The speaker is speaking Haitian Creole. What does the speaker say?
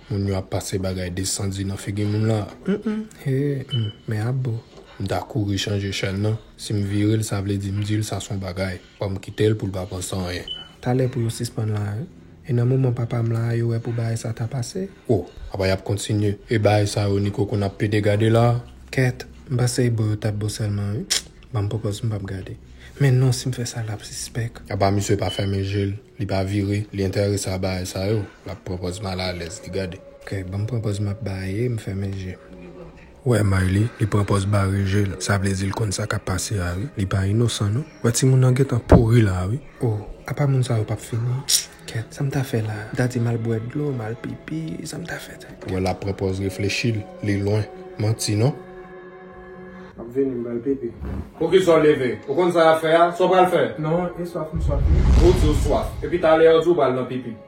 Moun yo ap pase bagay desandi nan figi moun la. Men ap bo. M ta kouri chanje chèn nan. Si m vire l sa vle di m di l sa son bagay. Banm kitel poul pa panse anyen. Talè pou yo sispann la hein. E nan moman papam la a yo wè pou bagay sa ta pase. Oh apa yap kontinye. E bagay sa yo Nico konn ap plede gade la. Kèt, m panse e bo yo tap bo sèlman wi. Banm pòpòz m pap gade. Men non sim fè sa lap sispèk. Apa misye pa fèmen jel, li pa vire, li entèrese a bagay sa yo, lap pran pòz malalèz li gade. Kèt, banm pran pòz map baye, m fèmen jem. Wè Mayli li pran pòz bare je l sa vle di l konn sa kap pase a wi li pa inosan non wè timoun nan gentan pouri la wi oh apa moun sa yo pap fini kèt sa m ta fè la m ta di m al bwè dlo m al pipi sa m ta fè la wè lap pran pòz reflechi l li lwen manti non. Map vini m pral pipi. Poukisa w leve? Ou konn sa yap fè a? Sa w pral fè? Non e swaf m swaf wi. Ou di w swaf epi talè a w di w pral nan pipi.